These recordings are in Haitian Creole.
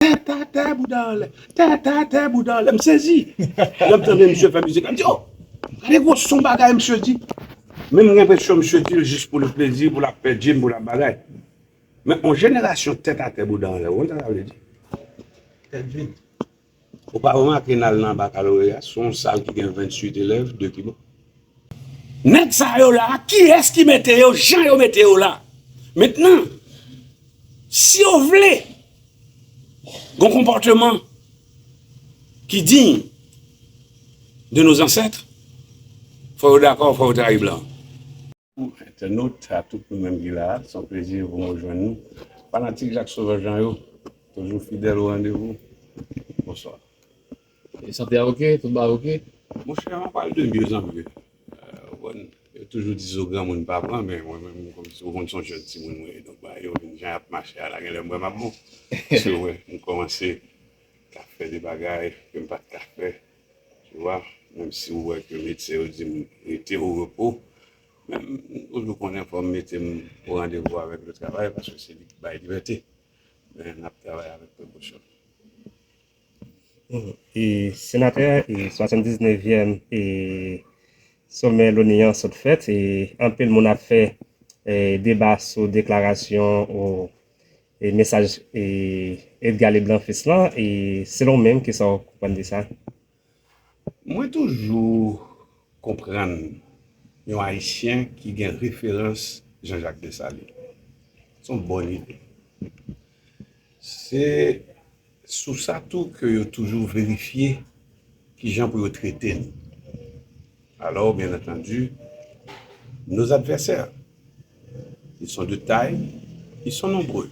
Tè tè tè bouda anlè Tè tè tè bouda anlè M sezi Lè m tande misye fè mizik la m di oh Gade gwo son bagay misye di Men m gen enpresyon misye di l jis pou l plezi pou l ap fè djim pou l ap bagay Men on jenerasyon tèt atè bouda anlè ou konn sa sa vle di Tèt vid Ou pa remake n al nan bakaloreya s on sal ki gen 28 elèv 2 ki bon. Nèg sa yo la kiyès ki mete yo jan yo mete yo la? Mentnan si yo vle gon konpòteman ki diy de nos ancêtres fò yo dakò fò yo trayi blan. Bonjour internautes a tout nou menm ki la a son plezi pou mwen jwenn nou fanatik Jacques Sauveur Jean yo toujou fidèl o randevou bonswa. Sante a ok? Tout bagay ok? Monchè an pale de mieux en mieux ou konn yo toujou di zo granmoun pa pran men mwen menm kòmsi ou konn son jèn timoun mwen ye donk bagay yo vin jan yap mache a la genlè m wè map bon paske wè m kòmanse ka fè de bagay ke m pat ka fè tu wà menm si ou wè ke medsen yo di m rete o repo men m toujou konnen fò m mete m o randevou avèk le travay paske se li ki bay libète men nap travay avèk prekosyon. Senatè, 79 vyèm somè loni an sot fèt, anpil moun ap fè deba sou deklarasyon ou mesaj Edgard Leblanc fils lan, selon ou menm kisa ou konprann de sa? Mwen toujou konprann yon ayisyen ki gen referans Jean Jacques Dessalines. Son bòn ide. Se sou sa tou ke yo toujou verifye ki jan pou yo trete n. Alò, byen antandu, nos adversaires. Ils sont de taille, ils sont nombreux.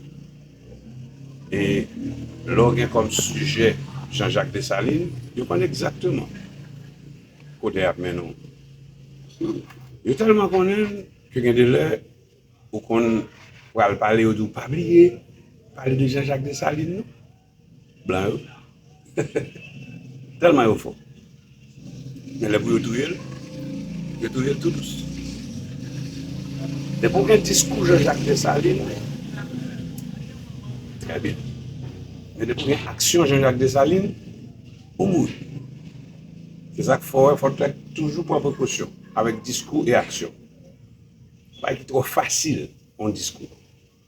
E lè w gen kòm sijè Jean Jacques Dessalines, yo konn egzakteman kote y ap mennen w. Yo tèlman konnen l ke gen de lè ou konn pral pale yo di w pa bliye pale de Jean Jacques Dessalines non. Blan yo tèlman yo fò men lè pou yo touye l yo touye l tou dous lè pou gen diskou Jean Jacques Dessalines trè byen men lè pou gen aksyon Jean Jacques Dessalines ou mouri se sak fè wè fòk lè toujou pran prekosyon avèk diskou e aksyon bay ki trò fasil yon diskou.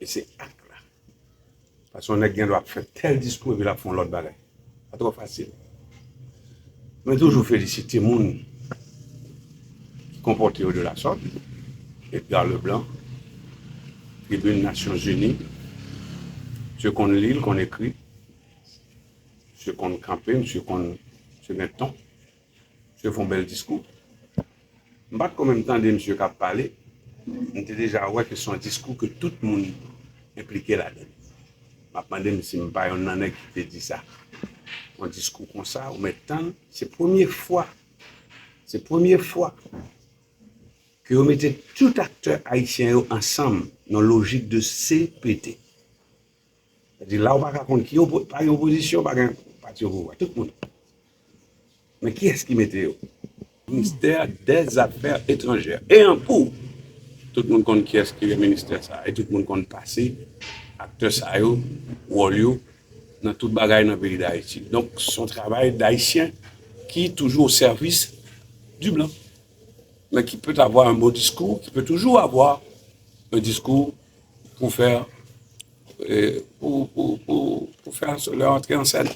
E se ak la. Paske yon nèg gen dwa ap fè tèl diskou epi l ap fè yon lòt bagay. Sa twò fasil. Mwen toujou felisite moun ki konpòte yo de la sòt. Edgar Leblanc, tribin Nasyon Zini. Msye konn li, l konn ekri. Msye konn kanpe, msye konn, msye gen ton. Misye fon bèl diskou. M pat ko menm tande misye kap pale, m te deja wè ke son diskou ke tout moun enplike ladann. Map mande m si m pa yon nan nèg ki te di sa. Yon diskou konsa ou mèt tann, se premye fwa, se premye fwa ke yo mete tout aktè ayisyen yo ansanm nan lojik de CPT. Sa di la ou pa ka konn ki opo, pa gen opozisyon, pa gen pati opouvwa. Tout moun. Men ki yès ki mete yo? Ministè dè zafè etranjè. E an pou! Tout moun konn ki yès ki gen ministè sa a. E tout moun konn pase aktè sa yo, wòl yo nan tout bagay nan peyi Dayiti. Donk s on travay dayisyen ki toujou o sèvis di blan. Men ki pèt avwa an bon diskou, ki pèt toujou avwa an diskou pou fè lè antre an sèn.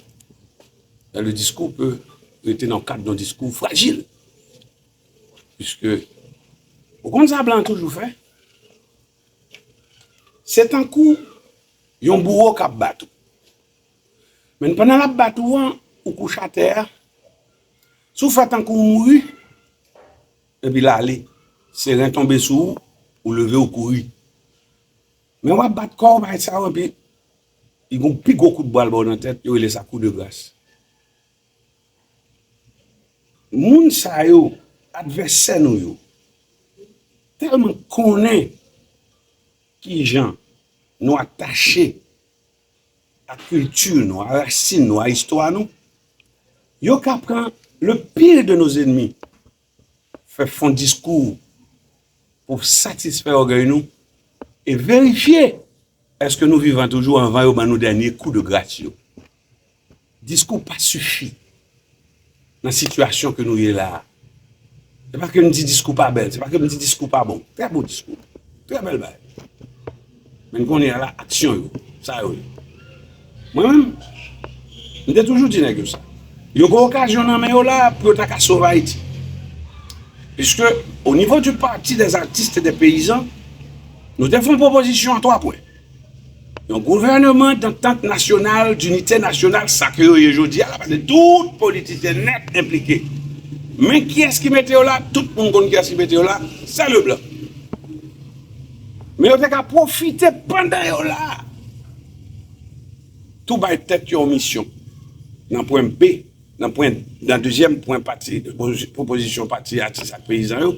Lè le diskou pe rete nan kad nan diskou frajil. Piske, ou konn sa blan toujou fè? Se tankou yon bouwo kap bat ou. Men pandan lap bat ou an, ou kouche atè a, si ou fè tankou ou mouri, Epi l ale. Se ren tonbe sou ou, ou leve ou kouri. Men w ap bat kò w bay tchaw epi li gen yon pi gwo kout bwa l ba w nan tèt, yo rele sa kou de gras. Moun sa yo, advèsè nou yo, tèlman konnen kijan nou atache. a kilti nou, a rasin nou, a istwa nou, yo ka pran le pire de nos ennemis fè fon diskou pou satisfè ògèy nou e verifye èske nou vivan toujou anvan yo ban nou dènye kou de gras yo. Diskou pa sifi nan sitiyasyon ke nou ye la a. Se pa ke m di diskou pa bèl, se pa ke m di diskou pa bon. Trè bon diskou, trè bèl bagay. Men kounye a la, aksyon yo, sa yo ye. Mwen menm, m te toujou di nèg yo sa. Yo gen okazyon nan men yo la a pou yo ta ka sove Ayiti. Piske, o nivo di pati dè zatis e dè peyizan, nou te fon pwopozisyon an 3 pwen. Yon gouvèneman dantant nasyonal, dinite nasyonal, sa ke yo ye jodi a la, paske tout politisyen nèt enplike. Men kiyès ki mete yo la? Tout moun konn kiyès ki mete yo la, sè Leblanc. Men yo te ka pwofite pandan yo la, tou bay tèt yo yon misyon, nan pwen B Nan pwen, nan dezyèm pwen pati, pwopozisyon pati atis ak peyizan yo,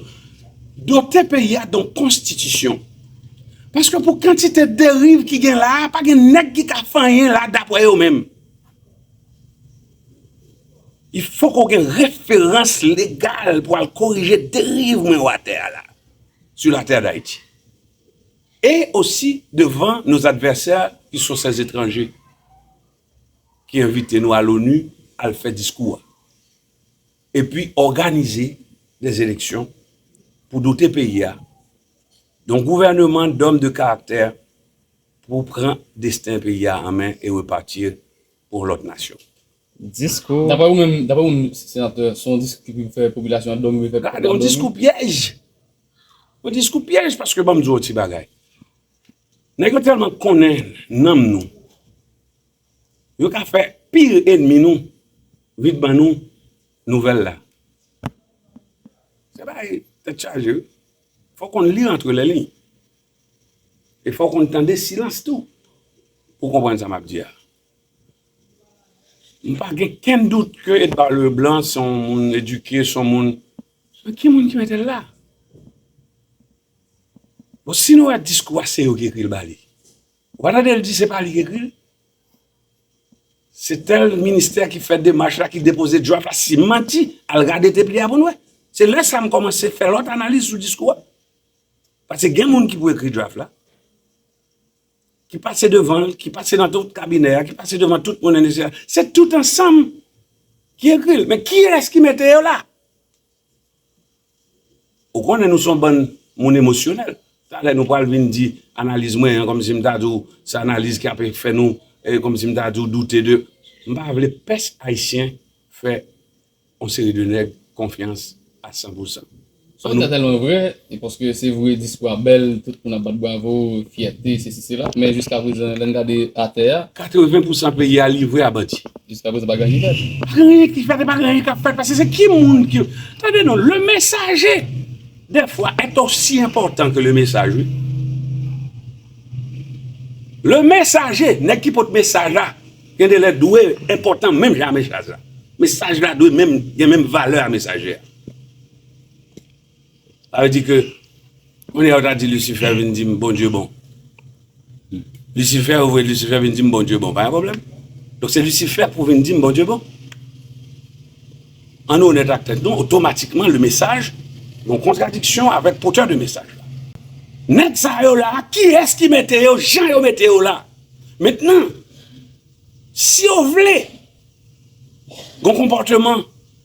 dote peyi a don konstitisyon. Paske pou kantite deriv ki gen la a, pa gen nèg ki ka fè anyen la a dapwè yo menm. I fòk ou gen referans legal pou al korije deriv mwen ou atè a la a, su la tè dayiti. E osi devan nos advèsè ki so sè zetranje. ki envite nou a l'ONU al fè diskou a, epi òganize des eleksyon pou dote peyi a don gouvèneman dòm de karaktè pou pran desten peyi a an men e repati pou yon lòt nasyon. Diskou. Dapre ou menm, dapre ou menm senatè, se yon diskou ki pou fè popilasyon an dòmi refè pèp la dòmi? Gade yon diskou pyèj! Yon diskou pyèj paske banm di w yon ti bagay. Nèg yo tèlman konnen nanm nou, yo ka fè pire enmi nou vin ban nou nouvèl la. Se bagay tèt chaje wi. Fò w konn li antre lè liy. E fò w konn tande silans tou pou w konprann sa m ap di a. M pa gen kenn dout ke Edward Leblanc se yon moun edike, se yon moun. Men ki moun ki mete l la? Bon si nou wè diskou a se yo ki ekri l ba li, ou pa tande l di se pa li ki ekri l? Se tèl ministè ki fè demach la ki depoze draft la, si m manti al gade tep li a pou n wè. Se lè sa m kòmanse fè lòt analiz sou diskou a. Pase gen moun ki pou ekri draft la, ki pase devan l, ki pase nan tout kabinè a, ki pase devan tout moun enn ese a, se tout ansanm ki ekri l. Men kiyès ki mete yo la? Ou konnen nou son bann moun emosyonèl. Talè nou pral vin di analiz mwen an kòm si m ta di w se analiz ki ape fè nou kòm si m ta di w doute de. M pa vle pès ayisyen fè yon seri de nèg konfyans a san pou san. Sa w di a tèlman vrè e paske se vre diskou a bèl, tout moun ap bat bravo, fyète, sesi sela, men jiska prezan lè n gade atè a. 80 pou san peyi a livre a bandi. Jiska prezan pa gen anyen fèt. Pa gen anyen ki fèt e pa gen anyen k ap fèt paske se ki moun ki. Tande non, le mesaje dè fwa est osi enpòtan ke le mesaj wi. Le mesaje, nèg ki pot mesaj la gen de lè dwe enpòtan menm jan a mesaj la. Mesaj la dwe menm gen menm valè a mesaje a. Sa vle di ke kounye a ou ta di Lucifer vin di m Bondye bon. Lucifer ou voye Lucifer vin di m Bondye bon pa gen pwoblèm. Donk se Lucifer pou vin di m Bondye bon. An nou onèt ak tèt nou otomatikman le mesaj yon kontradiksyon avèk potè de mesaj la. Nèg sa yo la kiyès ki mete yo jan yo mete yo la? Mentnan si yo vle yon konpòteman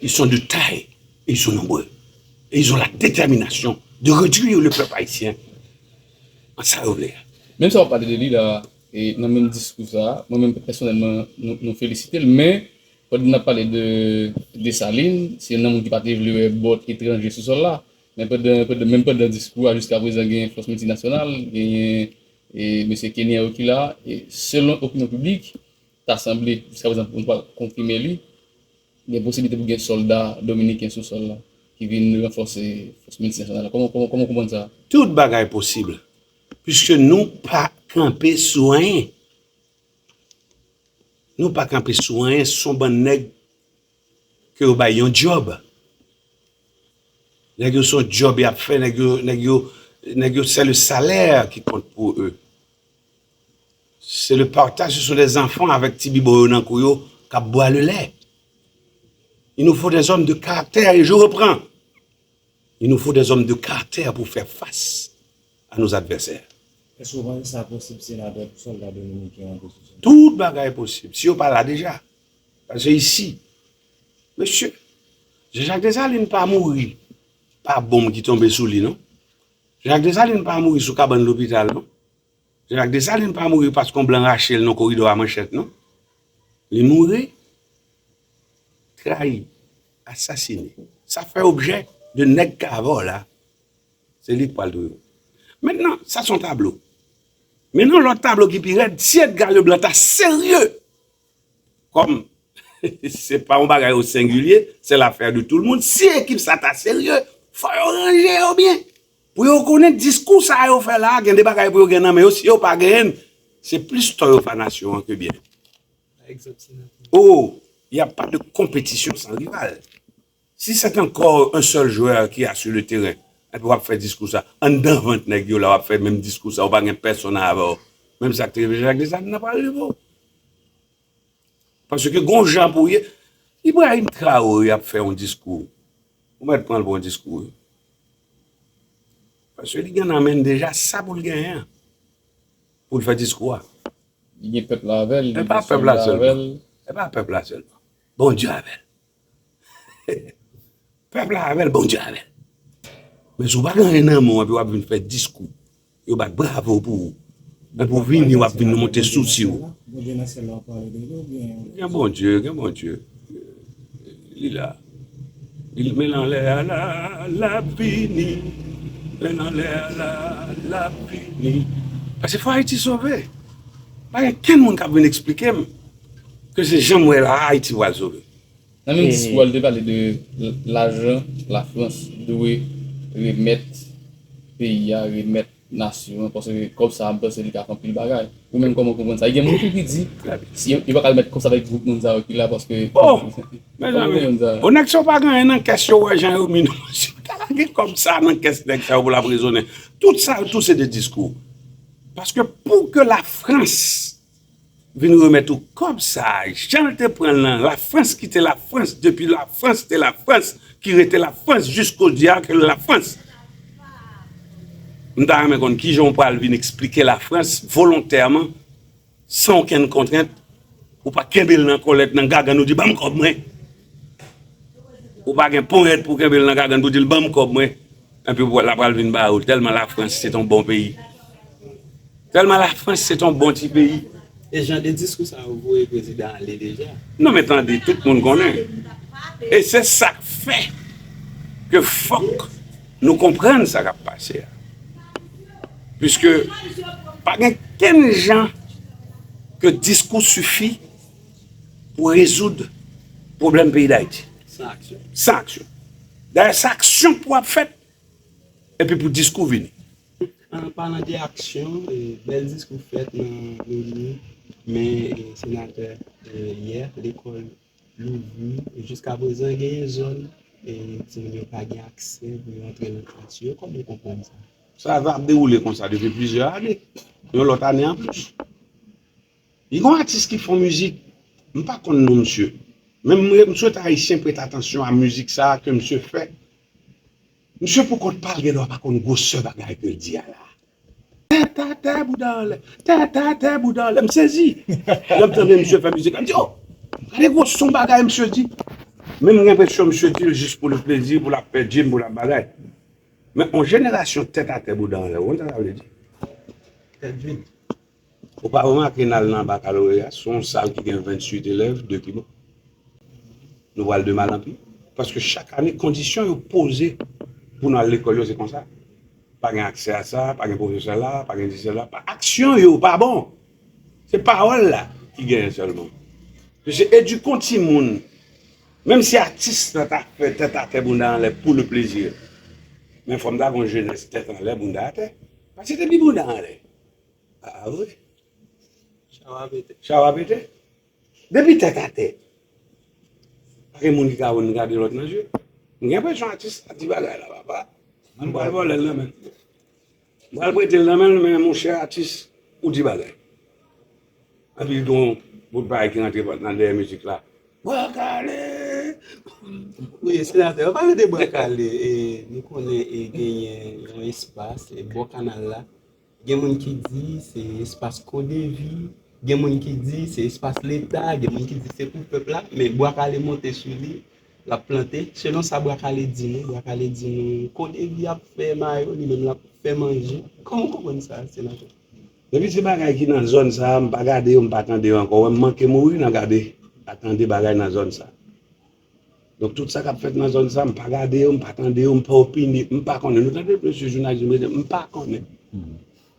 Ils sont de taille et ils sont nombreux. Et ils ont la détermination de réduire le peuple haïtien en ça yo vle. Menm sa wap pale de li la e nan menm diskou sa, mwen menm pèsonèlman nou felisite l men pandan nap pale de Dessalines se yon nan moun ki pa te vle wè bòt etranje sou sòl la men pandan menm pandan diskou a jiska prezan genyen fòs miltinasyonal genyen e mesye Kenyan yo ki la e selon opinyon piblik ta sanble jiska prezan nou pa konfime li Gen posibilite pou gen solda dominiken sou sol la ki vin ranfose fos miltinasyonal la koman ou konprann sa? Tout bagay posib puiske nou pa kanpe sou anyen. Nou pa kanpe sou anyen son bann nèg ke yo bay yon job. Nèg yo son job yap fè nèg yo nèg yo nèg yo sè le salè ki kont pou e. Se le partage ce sont des enfants avec ti bibo yo nan kou yo kap bwa le lait il nous faut des hommes de caractère et je reprends il nous faut des hommes de caractère pour faire face à nos adversaires. Eske ou panse sa posib senatè pou solda dominiken yo antre sou zone. Tout bagay posib si yo pa la deja pase isi mesye Jean Jacques Dessalines pa mouri pa bonm ki tonbe sou li non Jean Jacques Dessalines pa mouri sou kabann lopital non. Jacques Dessalines pa mouri paske yon blan rache l nan koridò a manchèt non. Li mouri trayi, asasine. Sa fè objè de nèg k avè w la, se li k pral touye w. Mentnan, sa se yon tablo. Men nan yon lòt tablo ki pi rèd, si Edgar Leblanc ta serye, kòm se pa yon bagay osengilye, sè lafè de tou l moun, si ekip sa ta serye, fò yo ranje yo byen. Pou yo konnen diskou sa yo fè la gen de bagay pou yo gen nan men yo si yo pa genyen se plis tò yo fè nasyon an ke byen. Oh y a pas de compétition sans rival si c'est encore un seul joueur qui a sur le terrain epi wap fè diskou sa anndan vant nèg yo la wap fè menm diskou sa ou pa gen pèsonn avèw menm sa k te rive Jacques Dessalines nan pral rive w. Paske gon jan pou ye. Ibrahim Traore ap fè yon diskou. Ou mèt pran l pou yon diskou wi. Paske li gen nan men l deja sa pou l genyen an. Pou l fè diskou a. Li gen pèp la avè l. E pa pèp la sèlman. Bon Dye avè l. Pèp la avèl Bondye avèl. Men si w pa gen anyen nan men w epi w ap vin fè diskou, yo bat bravo pou ou. Epi w vini w ap vin monte sosi w. Gen Bondye, gen Bondye. Li la. Li men l anlè a la, l ap vini. Men l anlè a la, l ap vini. Pase fò Ayiti sove. Pa gen kenn moun k ap vin esplike m. Ke se janm wè la Haiti wa zore. Nan menm diskou a li te pale de lajan la frans dwe remèt peyi a remèt nasyon an paske kòb sa a m panse li ka fè anpil bagay ou menm kòman w konprann sa e gen moun tou ki di yo pa ka remèt kòb sa avèk gwoup moun sa yo ki la paske oh mezanmi bon nèg sa yo pa gen anyen nan kès yo wè jan yo mi nan si yo ta lage kòb sa a nan kès nèg sa yo pou l ap rezonnen tout sa yo tou se de diskou paske pou ke la frans Vin remèt ou kòb sa a jan l te pran l nan Lafrans ki te Lafrans depi Lafrans te Lafrans ki rete Lafrans jis kodi a ke l Lafrans. M ta renmen konn ki jan w pral vin eksplike Lafrans volontèman san okenn kontrent ou pa kenbe l nan kòlèt nan gagann ou di ban m kòb mwen. Ou pa gen ponyèt pou kenbe l nan gagann pou di l ban m kòb mwen, enpi w la pral vin ba ou l tèlman Lafrans se t on bon peyi. Tèlman Lafrans se t on bon ti peyi. E jan de diskou sa yo voye prezidan ale deja. Non men tande, tout moun konnen. E se sa k fè ke fòk nou konprann sa k ap pase a. Piske pa gen kenn jan ke diskou sifi. pou rezoud pwoblèm peyi Dayiti. San aksyon. San aksyon. Dayè se aksyon pou ap fèt epi pou diskou vini. An palan de aksyon, bèl diskou fèt nan Loni, men Senatè yè lekòl louvri. Jiska prezan gen yon zòn timoun yo pa gen aksè pou yo antre nan klas yo. Kòman ou konprann sa? Sa ap dewoule konsa depi plizyè ane. Yon lòt ane anplis. Gen yon atis ki fon mizik, m pa konn non misye, men m swete ayisyen prete atansyon a mizik sa ke misye fè. Misye pou kont pa l gen dwa pa konn gwosè bagay ke l di a la. Tè tè tè bouda anlè, tè tè tè bouda anlè. M sezi lè m tande misye fè mizik la, m di oh! Gade gwo son bagay misye di. Men m gen enpresyon misye di l jis pou l plezi, pou l ap fè djim, pou l ap bagay. Men yon jenerasyon tètatè bouda anlè, ou konn sa sa vle di? Tèt vid. Ou pa remake nal nan bakaloreya se yon sal ki gen 28 elèv de piman. Nou pral de mal an pi paske chak ane kondisyon yo poze pou nou al lekòl yo se konsa. Pa gen aksè a sa, pa gen pwofesè la, pa gen disè la, aksyon yo pa bon. Se pawòl la ki genyen sèlman. Mesye edikon timoun menm si atis nan ta fè tèt atè bounda anlè pou le plezi men fòm ta gon jenès tèt anlè bounda atè. Pase te pi bounda anlè. Ah oui. Chawa pete. Chawa pete. Depi tèt a tè. Pa gen moun ki ka wè m gade lòt nan je. M gen enpresyon atis la di bagay la papa. M pral vòlè l nan men l. M pral prete l nan men l men mon chè atis ou di bagay. Epi gon bout bagay ki rantre nan dèyè mizik la. Bwa kale! Wi senatè, pa rete bwa kale. Nou konnen genyen yon espas bò kanal la. Gen moun ki di se espas CODEVI, gen moun ki di se espas leta, gen moun ki di se pou pèp la, men Bwa Kale monte sou li, l ap plante. Selon sa Bwa Kale di nou, Bwa Kale di nou CODEVI ap fè mayo, li menm l ap fè manje. Kòman w konprann sa, Senatè? Depi se bagay ki nan zòn sa a, m pa gade yo, m pa tande yo ankò. Ou wè m manke mouri nan gade ak tande bagay nan zòn sa a. Donk tout sa kap fèt nan zòn sa m pa gade yo, m pa tande yo, m pa opine, m pa konnen. Nou tande mesye jounalis yo mete m pa konnen.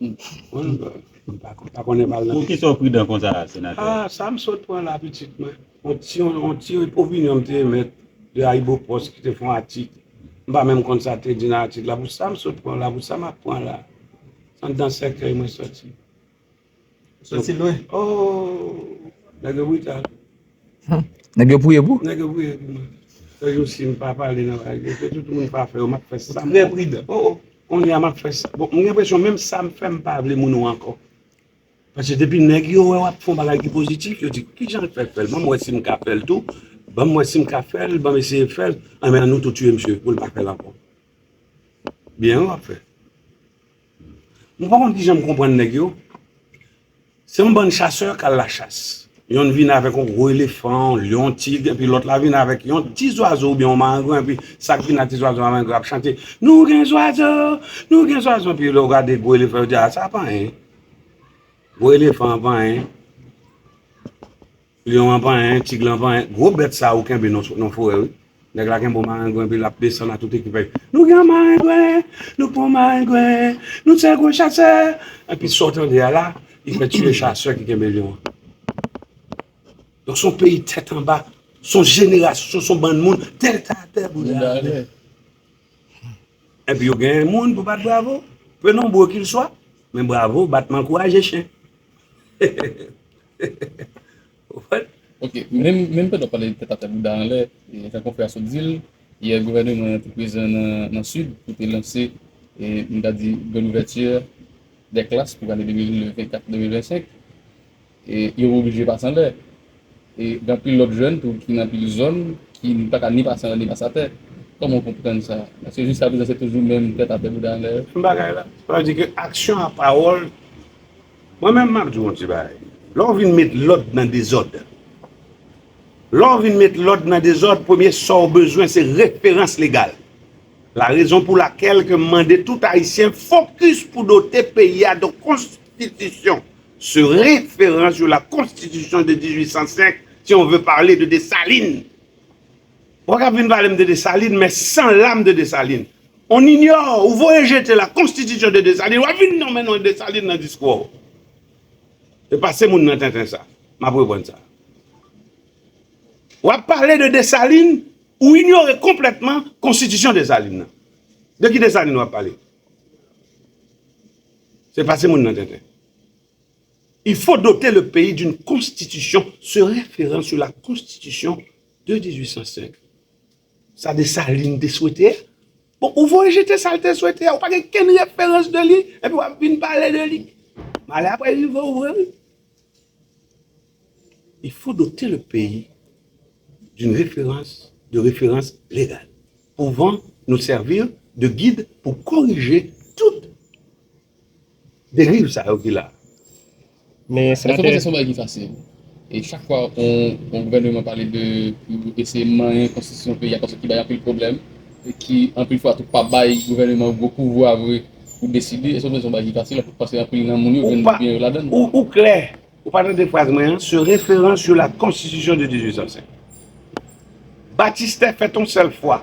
M pa konnen pa al nan mesye. Poukisa w pridan konsa a senatè? A, sa m sot pran la pitit mwen. On ti on ti opinyon m te emèt de Ayibopost ki te fè yon atik. M pa menm konn sa te di nan atik la. Pou sa m sot pran la, pou sa m ap pran la. Andan sèkèy mwen soti. Soti lwen ooh nèg yo brital. Nèg yo priye pou? Nèg yo priye pou mwen. Sèl jou sim pa pale nan bagay yo se tout moun pa fè yo map fè sam vle. Trè pridan. Oh oh konnya map fè sa. Bon mwen gen presyon menm sam fè mpa vle moun ou ankò. Paske depi nèg yo wè wap fon bagay ki pozitif yo di kijan l fè fèl banm wè sim ka fèl tou banm wè sim ka fèl banm eseye fèl anben an nou tou tiye misye poul pa fèl ankò. Byen wi wap fè. Mwen pa konn kijan m konprann nèg yo. Se yon bann chasè k al lachas. Yonn vin avèk yon gwo elefan, yon lyon, tig, epi lòt la vin avèk yon ti zwazo oubyen yon marengwen, epi sa k vin ak ti zwazo marengwen ap chante, Nou gen zwazo! Nou gen zwazo! Epi lè yo gade gwo elefan, yo di, A sa pa anyen. Gwo elefan an pa anyen. Lyon an panyen, tig lan panyen. Gwo bèt sa ou kenbe nan forè wi. Nèg la kenbe yon marengwen epi lap desann ak tout ekipaj. Nou gen yon marengwen, nou pran yon marengwen, nou tchè gwo chasè. Epi sa ou tande a la, li fè tiye chasè ki kenbe lyon an. Donk son peyi tèt anba, son jenerasyon, son bann moun tèt atè bouda atè. Epi yo gen moun pou bat bravo, pe nonbro kilswa, men bravo batman kouraje chen. What? Ok, menm pandan wap pale tèt atè bouda anlè, jan konfrè a sot di l, yè gouvèneman an te prezan nan Sid pou te lanse nou ta di grand ouverture des classes pou ane 2024-2025 e yo oblije pase anlè e gen anpil lòt jèn tou ki nan anpil zòn ki pa ka ni pase anlè ni pase atè. Kòman w konprann sa? Èske jiskaprezan se toujou menm tèt atè bouda anlè yo? Menm bagay la. Sa vle di ke aksyon a pawòl Mwen menm map diw yon ti bagay lè w vin met lòd nan dezòd lè w vin met lòd nan dezòd premye sa w bezwen se referans legal la rezon pou lakèl ke m mande tout ayisyen fokis pou dote peyi a don konstitisyon se referans yo la konstitisyon de 1805 si on ve parle de Dessalines Wak ap vin palem de Dessalines men san lam de Dessalines on ignore ou voye jete la constitution de Dessalines wap vin nonmen non Dessalines nan diskou a ou e pase moun nan tenten sa map reprann sa wap pale de Dessalines ou ignore konpletman constitution Dessalines nan de ki Dessalines wap pale se pase moun nan tenten il faut doter le pays d'une constitution se referant sur la constitution De 1805, sa Dessalines te swete a, bon ou voye jete sa l te swete a, ou pa gen kenn referans de li, epi w ap vin pale de li. Malè a pral rive w vre wi. Il faut doter le pays d'une référence, de référence légale, pouvant nous servir de guide pou korije tout Deriv sa yo ki la. Men Senatè. Endepandan se yon bagay ki fasil. E chak fwa yon gouvèneman pale de pou eseye manyen konstitisyon peyi a paske ki bay anpil pwoblèm e ki anpil fwa tou pa bay gouvèneman gwo pouvwa vre pou deside. Endepandan se yon bagay ki fasil paske anpil nan moun yo jwenn byen yo ladan l. Ou klè. Ou pa tande fraz mwen an? Se referan sur la konstitisyon de 1805. Batistè fèt yon sèl fwa.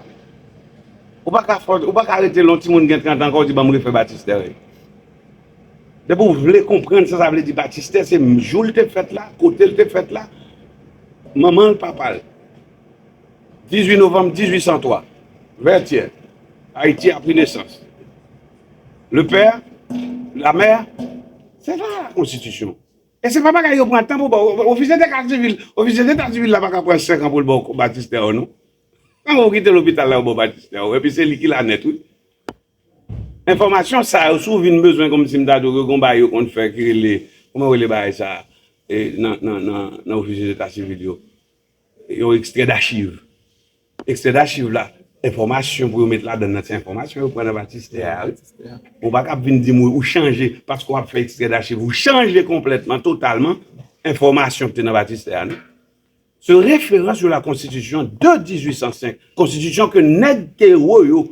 Ou pa ka fòs, ou pa ka rete lè yon timoun gen 30 an kòw di banm refè batistè rèy. Depi ou vle konprann sa sa vle di batistè se jou l te fèt la, kote l te fèt la, manman l, papa l. 18 novanm 1803, Vètyè, Ayiti a pri nesans. Le père, la mère. Se sa la konstitisyon. E se pa bagay yo pran tan pou baw. Ofisye deta sivil, ofisye deta sivil la pa ka pran 5 an poul baw batistè ou non. Kman pou kite lopital la yo baw batistè ou. Epi se li ki la nèt wi. Enfòmasyon sa yo si w vin bezwen kòmsi m ta di w ke gon bagay yo konn fè ki rele, kòman yo rele bagay sa nan ofisye deta sivil yo. Yon ekstrè dachiv. Ekstrè dachiv la, enfòmasyon pou yo met ladan l lan se enfòmasyon yo pran nan batistè a wi. Ou pa ka ap vin di m ou chanje paske w ap fè ekstrè dachiv ou chanje konplètman, totalman, enfòmasyon ki te nan batistè a non. Se referans yo la konstitisyon de 1805, konstitisyon ke nèg Tero yo.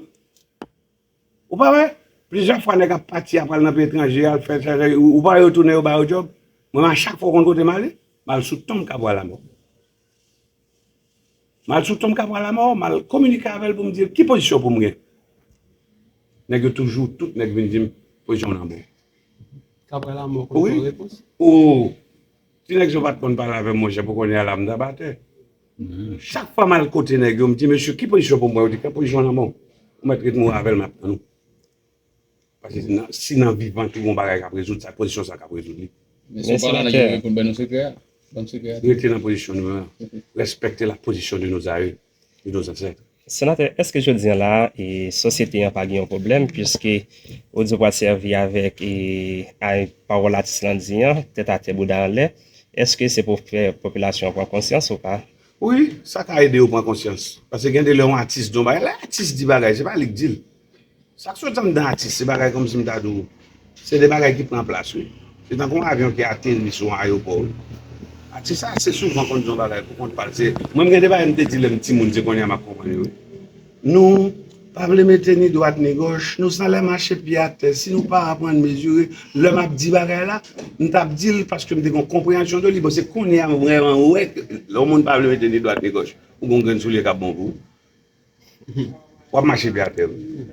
Ou pa wè, plizyè fwa nèg ap pati ap al nan peyi etranje, al fè sa, ou pa wè yo tounen yo ba yo djòb? Mwen menm a chak fwa ou konn kote m ale? M al sou tonm Kabwa Lamò. M al sou tonm Kabwa Lamò, m al kominike avè l pou m di l ki pozisyon pou m gen. Nèg yo toujou, tout nèg vin di m pozisyon w nan bon. Kabwa Lamò konn fè repons? Wi. O! Ti nèg sa ou pa t konn pale avè m monchè pou kounye a la m t ap atè. Chak fwa m al kote nèg yo, m di mesye ki pozisyon pou m pran, yo di pran pozisyon lanmò w. Ou mèt ret mouri avè l m ap tann ou. Paske si nan vivan tou gon bagay k ap rezoud sa, pozisyon sa k ap rezoud li. Mesye w pa la nan ki pou l ban nou sekrè a? Ban m sekrè a. Rete nan pozisyon nou an. Respekte la pozisyon de nos aïeux, de nos ancêtres. Senatè, èske jodi an la a, sosyete an pa gen yon pwoblèm piske odyo pral sèvi avèk pawòl atis lan di an, tèt atè bouda anlè, èske se pou fè popilasyon an pran konsyans ou pa? Wi, sa ka ede yo pran konsyans. Pase gen de lè yon atis di yon bagay, lè atis di bagay se pa li k di l. Sak sot anndan atis se bagay kòmsi m ta di w se de bagay ki pran plas wi se tankou yon avyon ki ateri sou yon ayopò wi atis sa ase souvan konn di yon bagay pou kont pa l se mwen m gen de bagay m te di lè m timoun se konnya m ap konprann yo wi nou pa vle mete ni dwat ni gòch nou san lè mache pye atè si nou pa aprann mezire lè m ap di bagay la m t ap di l paske m te gen yon konpreyansyon de li bon se konnya m vrèman wè ke lè yon moun pa vle mete ni dwat ni gòch ou gen yon grenn soulye k ap bon pou ou Wap mache pye atè wi.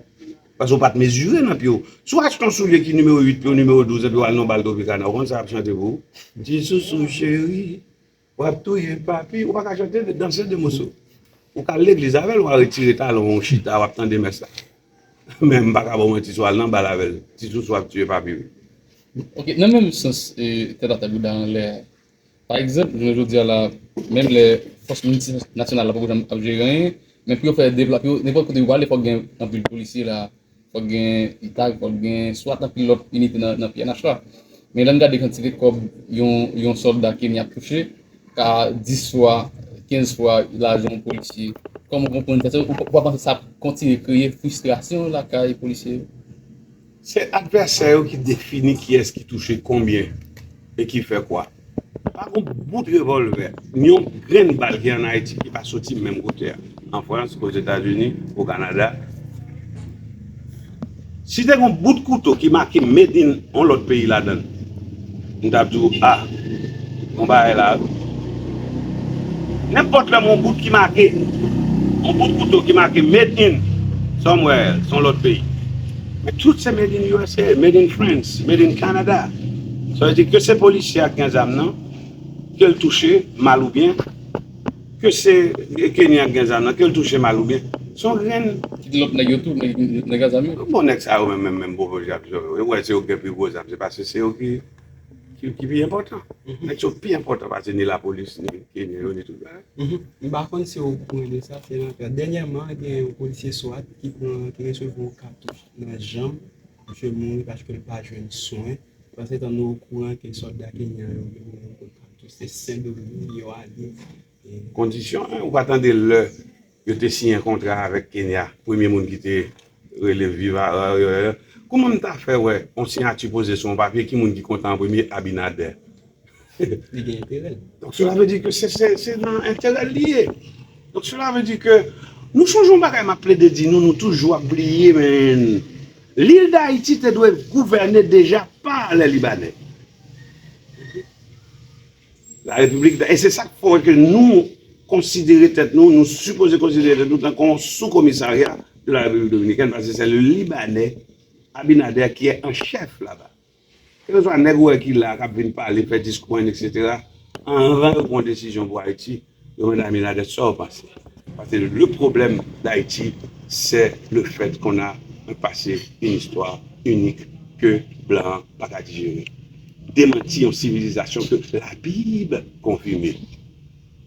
Paske ou pat mezire nan pye w. Si w achte yon soulye ki nimewo 8 pye w nimewo 12 epi w al nan yon bal Tropicana ou konn sa yap chante pou ou? Ti sousou cheri wap touye papi ou paka chante danse 2 moso. Ou ka al legliz avè l wa retire talon w ou chita wap tande mès la. Men m paka ba w manti si w al nan bal avè l ti sousou ap tiye papi wi. Ok nan menm sans tèt atè bouda anlè Pa egzanp, jounen jodi a la, menm lè fòs miltinasyonal la poko janm ap jere anyen, men pou yo fè deplap yo, nenpòt kote yo prale fòk gen anpil polisye la, fòk gen itag, fòk gen swat anpil lòt inite nan pnh la. Men lè n gade kantite kòb yon sòlda Kenya ap touche ka 10 fwa, 15 fwa lajan yon polisye. Kòman w konprann sa? Ou pa panse sa ap kontinye kreye fristrasyon lakay polisye yo? Se advèsè yo ki defini kiyès ki touche konbyen e ki fè kwa. Pa gon bout revòlvè, ni yon grenn bal ki an Ayiti ki pa soti menm kote a, an Frans, Ozetazini, o Kanada. Si te gon bout kouto ki make made in yon lòt peyi ladan l, M tap di w ah bon bagay la wi. Nenpòt lè m wè yon bout ki make, yon bout kouto ki make made in somewhere else, yon lòt peyi. Men tout se made in usa, made in France, made in Canada. Sa vle di ke se polisye a ki gen zam nan, ke l touche mal ou byen. Ke se Kenny ak gen zam nan kel touche mal ou byen son grenn. Kite lot neg yo tou neg a zam yo. Bon neg sa yo menm menm menm bobo jab yo ou we se yo ki gen pi gwo zam se paske se yo ki pi enpotan neg sa yo pi enpotan pase ni lapolis ni Kenny yo ni tout bagay. M pa konn si ou kouran de sa se lanfè. Dènyèman gen yon polisye swat ki pran ki resevwa yon katouch nan janm. Misye mouri paske l pa jwenn swen. Pansetan nou okouran ke sòlda Kenyan yo vin nan yon kout katouch se Sen Doming yo ale. Kondisyon 1, ou pa tande lè yo te siyen kontra avèk Kenya, premye moun ki te rele viva warrior, kouman m ta fè wè yon siyati poze sou yon papye ki moun ki kontan an premye Abinader. Li gen enterè l. Donk sela vle di ke se nan enterè l li ye. Donk sela vle di ke nou sonje yon bagay map plede di nou, nou toujou ap bliye men. Lil Dayiti te dwe gouvène deja pa lè Libanè. La Repiblik da e se sak fè ke nou konsidere tèt nou, nou sipoze konsidere tèt nou tankou yon sou-komisarya de la Repiblik Dominikèn paske se le Libanè Abinader ki è an chèf laba. Kelkeswa nèg ou wè ki la a kap vin pale, fè diskou en etc. Anvan yo pwan desizyon pou Ayiti, yo mande Aminadè sa ou panse. Paske le pwoblèm Dayiti sè le fèt kon a un pase, un istwa inik ke blan an pa ka dijere. Demanti yon sivilizasyon ke labib konfime.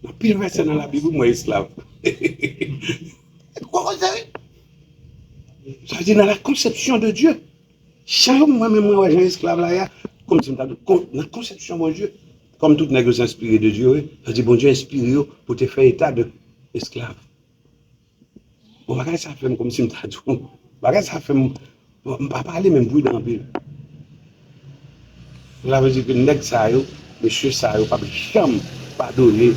Nan pil vèsè nan labib ou m wè esklav. Hehehehe. Gwo koze wi. Sa vle di nan la konsepsyon de Dye. Jan mwen menm mwen wè jan esklav la ye a, kòmsi m ta di w, nan konsepsyon Bondye, kòm tout nèg yo se enspire de Dye yo ye, sa vle di Bondye enspire yo pou te fè eta de esklav. Bon bagay sa fè m kòmsi m ta di w, bagay sa fè m, m pa pale men m pridan anpil. Sa vle di ke nèg sa yo, mesye sa yo p ap janm padone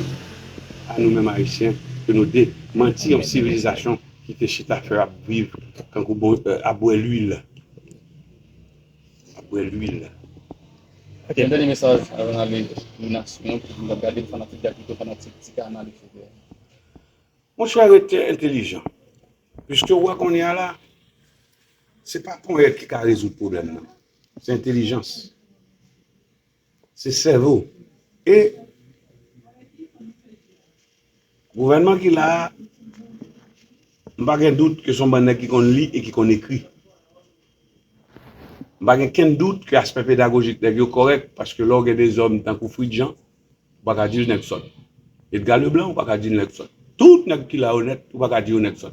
a nou menm Ayisyen ke nou te manti yon sivilizasyon. ki te chita fè ap viv tankou bo ap bwè lwil ap bwè lwil. Ok yon dènye mesaj avan nale pou nasyon an pou moun kap gadel fanatik gabito fanatik ti kanal etc. Monchè rete entelijan piske ou wè kounya la se pa ponyèt ki ka rezoud pwoblèm nan se entelijans. Se sèvo e gouvènman ki la a, m pa gen dout ke se yon bann nèg ki konn li e ki konn ekri. M pa gen kenn dout ke aspè pedagojik nèg yo kòrèk paske lè w gen de zòm tankou Frid Jan, ou pa ka di l nèg sòt. Edga Leblan, ou pa ka di l nèg sòt. Tout nèg ki la yo nèt, ou pa ka di yo nèg sòt.